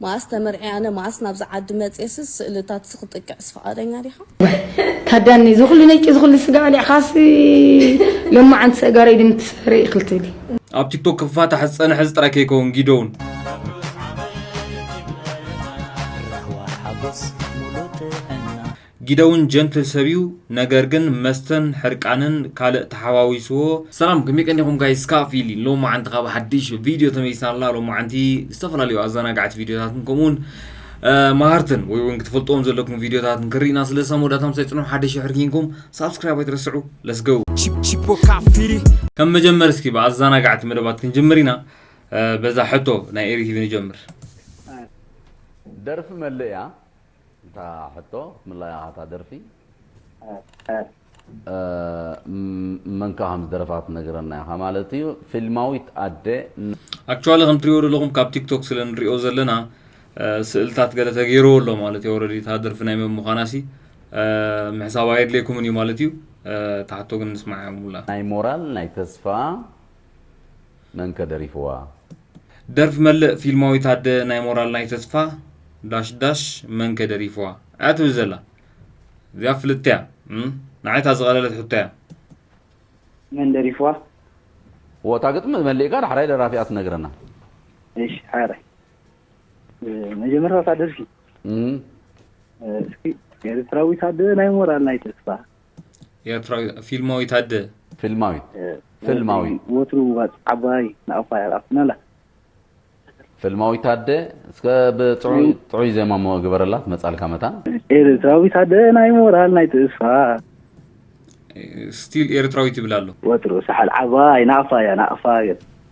መኣስ ተመርዕየ ኣነ መኣስ ናብዚ ዓዲ መጽየስስ ስእልታትሲ ክጥቅዕስ ፍቃደኛ ዲኻ። ዋይ ታዳኒ እዚ ኩሉ ነይቂ እዚ ኩሉ ስጋ በሊዕካሲ ሎማዓንቲ ሰእጋረይ ድም ትሰሪ እክል ትብሊ። ኣብ ቲክቶክ ክፋታሕ ዝጸነሐ እዚ ጥራይ ከይከውን ጊዶውን። ራህዋ ሓጎስ ሙሉእ ጥዕና። ጊደውን ጀንትል ሰብ እዩ ነገር ግን መስተን ሕርቃንን ካልእ ተሓዋዊስዎ። ሰላም ከመይ ቀኒኹም ጋይስ ካብ ፊሊ ሎማዓንቲ ካብ ሓድሽ ቪድዮ ተመሊስና ኣለና ሎማዓንቲ ዝተፈላለዩ ኣዘናጋዕቲ ቪድዮታትን ከምኡውን መሃርትን ወይ እውን ክትፈልጥዎም ዘለኩም ቪድዮታትን ክርኢና ስለዚ ሳብ መወዳእታ ምሳይ ፅንሑ ሓደ ሽሕር ኪንኩም ሳብስክራይብ ኣይትረስዑ ለስገው ከም መጀመር እስኪ ብኣዘናጋዕቲ መደባት ክንጅምር ኢና በዛ ሕቶ ናይ ኤሪቲቪ ንጀምር ደርፊ መለያ እታ ሕቶ ክትምላይ ኣኻ እታ ደርፊ መንካ ከም ዝደረፋ ትነግረና ኢኻ ማለት እዩ ፊልማዊት ኣደ ኣክቹዋሊ ከም ትሪኦ ዘለኹም ካብ ቲክቶክ ስለ ንሪኦ ዘለና ስእልታት ገለ ተገይርዎ ኣሎ ማለት እዩ ኦልሬዲ እታ ደርፊ ናይ መን ምዃና ሲ ምሕሳብ ኣየድልየኩምን እዩ ማለት እዩ ታሕቶ ግን ንስማዕ ሙላ ናይ ሞራል ናይ ተስፋ መንከ ደሪፍዋ ደርፍ መልእ ፊልማዊት ኣደ ናይ ሞራል ናይ ተስፋ ዳሽ ዳሽ መን ከ ደሪፍዋ ኣያ ትብል ዘላ እዚኣ ፍልጥቲ እያ ንዓይ እታ ዝቀለለት ሕቶ እያ። መን ደሪፍዋ? እዎ እታ ግጥሚ መሊእካ ዳሕራይ ደራፊኣ ትነግረና። እሺ ሓራይ መጀመርታ እታ ደርፊ እስኪ ኤርትራዊት ኣደ ናይ ሞራል ናይ ተስፋ። ኤርትራዊት ፊልማዊት ኣደ። ፊልማዊት ፍልማዊት። ወትሩ ዋጽ ዓባይ ንኣፋ የርኣኩና ኣላ። ፍልማዊት ኣደ እስከ ብጥዑይ ጥዑይ ዜማ እሞ ግበረላ ትመጻልካ መታን። ኤርትራዊት ኣደ ናይ ሞራል ናይ ትእስፋ። ስቲል ኤርትራዊት ይብል ኣሎ። ወትሩ ሳሕል ዓባይ ንኣፋ እያ ንኣፋ።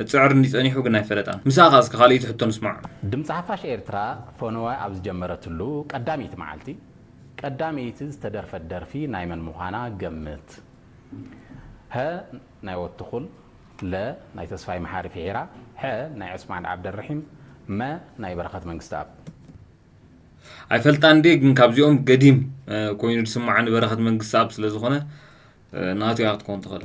እትጽዕር እንድዩ ጸኒሑ ግን ኣይፈለጣን ምስኣ ከኣ እስከ ካልእይቲ ሕቶ ንስማዕ። ድምጺ ሓፋሽ ኤርትራ ፈነወ ኣብ ዝጀመረትሉ ቀዳመይቲ መዓልቲ ቀዳመይቲ ዝተደርፈት ደርፊ ናይ መን ምዃና ገምት። ሀ ናይ ወትኹል ለ ናይ ተስፋይ መሓሪ ፊሒራ ሐ ናይ ዑስማን ዓብደልርሒም መ ናይ በረኸት መንግስትኣብ። ኣይፈልጣን ድየ ግን ካብዚኦም ገዲም ኮይኑ ዝስማዓኒ በረኸት መንግስትኣብ ስለ ዝኾነ ናቱ እያ ክትከውን ትኽእል።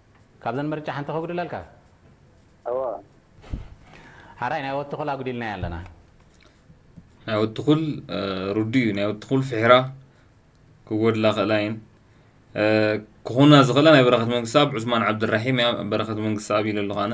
ካብዘን ምርጫ ሓንቲ ከጉድለልካ? እወ። ሐራይ ናይ ወድትኹል ኣጉዲልናዮ ኣለና። ናይ ወድትኹል ርዱእ እዩ ናይ ወድትኹል ፍሒራ ክጎድላ ክእላ እየን ክኾና ዝኽእላ ናይ በረኸት መንግስኣብ ዑስማን ዓብድራሒም እያ በረኸት መንግስኣብ ኢለ ኣለኹ ኣነ።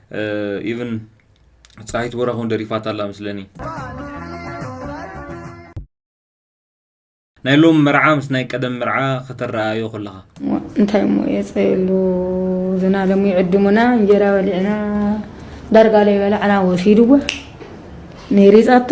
ኢቭን ፀሃይት ቦራክ እውን ደሪፋታ ኣላ መስለኒ ናይ ሎም መርዓ ምስ ናይ ቀደም መርዓ ከተረኣዮ ከለኻ እንታይ እሞ የፀየሉ ዝናለሙ ይዕድሙና እንጀራ በሊዕና ዳርጋ ለይበላዕና ወሲድዎ ነይሪፃቶ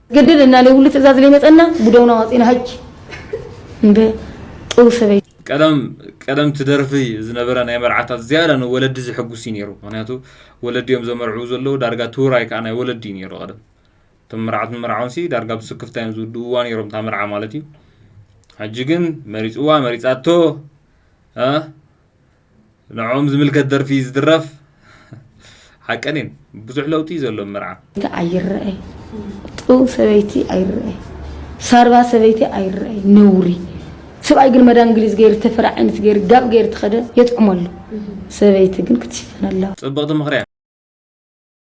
ግድል እና እኔ ሁሉ ትእዛዝ ላይ መጸና ጉደውና ዋጺና ሀጅ እንደ ጥሩ ሰበይ ቀደም ቀደም ትደርፊ ዝነበረ ናይ መርዓታት ዝያዳ ንወለዲ ዝሕጉስ እዩ ነይሩ ምክንያቱ ወለዲ እዮም ዘመርዕው ዘለዉ ዳርጋ ትውራይ ከዓ ናይ ወለዲ እዩ ነይሩ ቀደም እቶም መርዓትን መርዓውንሲ ዳርጋ ብስክፍታ እዮም ዝውድእዋ ነይሮም እታ መርዓ ማለት እዩ ሕጂ ግን መሪፅዋ መሪፃቶ ንዕኦም ዝምልከት ደርፊ ዝድረፍ ሓቀን እየን ብዙሕ ለውጢ እዩ ዘሎ መርዓ ኣይረኣይ ጥው ሰበይቲ ኣይረኣይ ሳርባ ሰበይቲ ኣይረኣይ ነውሪ ሰብኣይ ግን መዳ እንግሊዝ ገይሩ ተፈረ ዓይነት ገይሩ ጋብ ገይሩ ትኸደ የጥዕመሉ ሰበይቲ ግን ክትሽፈን ኣለዋ ፅብቕቲ ምኽርያ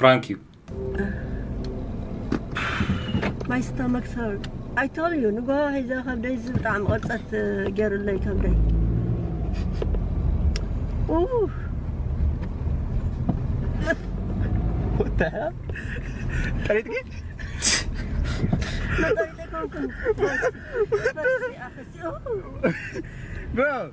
ፕራንክ እዩ ማይ ስተመክ ሰር ኣይተል እዩ ንጎ ሒዘ ከብደይ እዚ ብጣዕሚ ቅርፀት ገይሩለይ ከብደይ ጥሪት ግን Bro,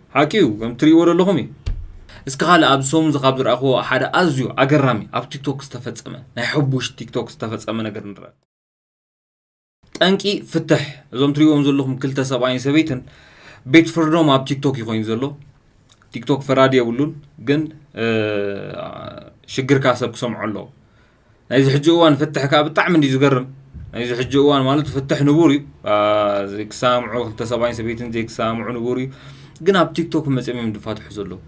ሓቂ እዩ ከም ትሪእዎ ደለኹም እዩ። እስከ ካልእ ኣብዚ ሰሙን እዚ ካብ ዝረኣኽዎ ሓደ ኣዝዩ ኣገራሚ ኣብ ቲክቶክ ዝተፈጸመ ናይ ሕቡሽ ቲክቶክ ዝተፈጸመ ነገር ንርኣ። ጠንቂ ፍትሕ እዞም ትሪእዎም ዘለኹም ክልተ ሰብኣይን ሰበይትን ቤት ፍርዶም ኣብ ቲክቶክ እዩ ኮይኑ ዘሎ። ቲክቶክ ፈራዲ የብሉን ግን ሽግርካ ሰብ ክሰምዖ ኣለዎ። ናይዚ ሕጂ እዋን ፍትሕ ከኣ ብጣዕሚ እንድዩ ዝገርም ናይዚ ሕጂ እዋን ማለት ፍትሕ ንቡር እዩ ዘይክሰማምዑ ክልተ ሰብኣይን ሰበይትን ዘይክሰማምዑ ንቡር እዩ ግን ኣብ ቲክቶክ መፅኦም እዮም ድፋትሑ ዘለዉ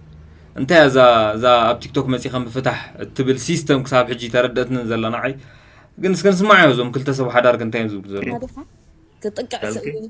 እንታይ እያ እዛ እዛ ኣብ ቲክቶክ መፂኻ ምፍታሕ እትብል ሲስተም ክሳብ ሕጂ ተረድእትኒ ዘላ ንዓይ ግን እስከ ንስማዕ እዞም ክልተ ሰብ ሓዳር እንታይ እዮም ዝብሉ ዘለዉ ክጥቅዕ ይኽእል እዩ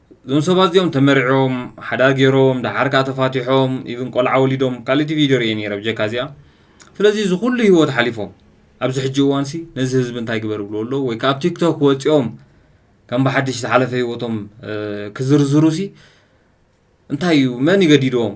እዞም ሰባት እዚኦም ተመርዕዮም ሓዳር ገይሮም ደሓር ከዓ ተፋቲሖም ኢቭን ቆልዓ ወሊዶም ካልእቲ ቪድዮ ርኤ ነይረ ብጀካ እዚኣ ስለዚ እዚ ኩሉ ሂወት ሓሊፎም ኣብዚ ሕጂ እዋንሲ ነዚ ህዝቢ እንታይ ግበር ብልዎ ኣለዉ ወይ ከዓ ኣብ ቲክቶክ ወፂኦም ከም ብሓድሽ ዝሓለፈ ሂወቶም ክዝርዝሩሲ እንታይ እዩ መን ይገዲድዎም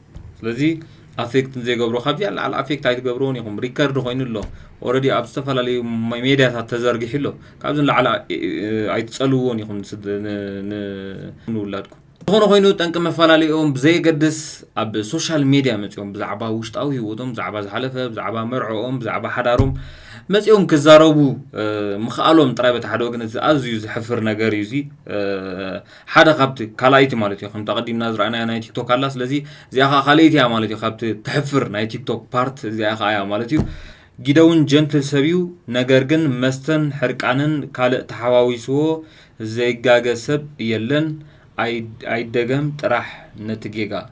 ስለዚ ኣፌክት ንዘይገብሮ ካብዚኣ ንላዕሊ ኣፌክት ኣይትገብርዎን ኢኹም ሪከርድ ኮይኑ ኣሎ ኦረዲ ኣብ ዝተፈላለዩ ሜድያታት ተዘርጊሑ ኣሎ ካብዚ ንላዕሊ ኣይትፀልውዎን ኢኹም ንውላድኩም ዝኾነ ኮይኑ ጠንቂ መፈላለይኦም ብዘየገድስ ኣብ ሶሻል ሜድያ መፂኦም ብዛዕባ ውሽጣዊ ህይወቶም ብዛዕባ ዝሓለፈ ብዛዕባ መርዕኦም ብዛዕባ ሓዳሮም መፂኦም ክዛረቡ ምኽኣሎም ጥራይ በቲ ሓደ ወገን ኣዝዩ ዝሕፍር ነገር እዩ እዚ ሓደ ካብቲ ካልኣይቲ ማለት እዮ ከምቲ ኣቀዲምና ዝረኣናያ ናይ ቲክቶክ ኣላ ስለዚ እዚኣ ከዓ ካልኣይቲ እያ ማለት እዩ ካብቲ ተሕፍር ናይ ቲክቶክ ፓርት እዚኣ ከዓ እያ ማለት እዩ ጊደውን ጀንትል ሰብ እዩ ነገር ግን መስተን ሕርቃንን ካልእ ተሓዋዊስዎ ዘይጋገ ሰብ የለን ኣይደገም ጥራሕ ነቲ ጌጋ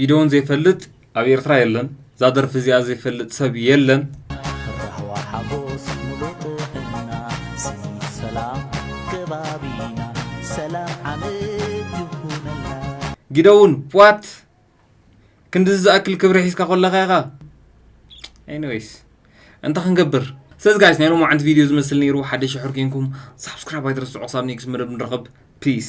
ጊደዎን ዘይፈልጥ ኣብ ኤርትራ የለን እዛ ደርፊ እዚኣ ዘይፈልጥ ሰብ የለን። ራህዋ ሓጎስ ሙሉእ ጥዕና ስኒት ሰላም ከባቢና ሰላም ዓመት ይኹነልና። ጊደውን ዋት ክንድዚ ዝኣክል ክብሪ ሒዝካ ኮለኻ ኢኻ ኤኒዌይስ እንታይ ክንገብር ስለዚ ጋይስ ናይ ሎማዓንቲ ቪድዮ ዝመስል ነይሩ ሓደ ሽሕር ኮንኩም ሳብስክራይብ ኣይትረስዑ ክሳብ ኔክስት መደብ ንራኸብ ፒስ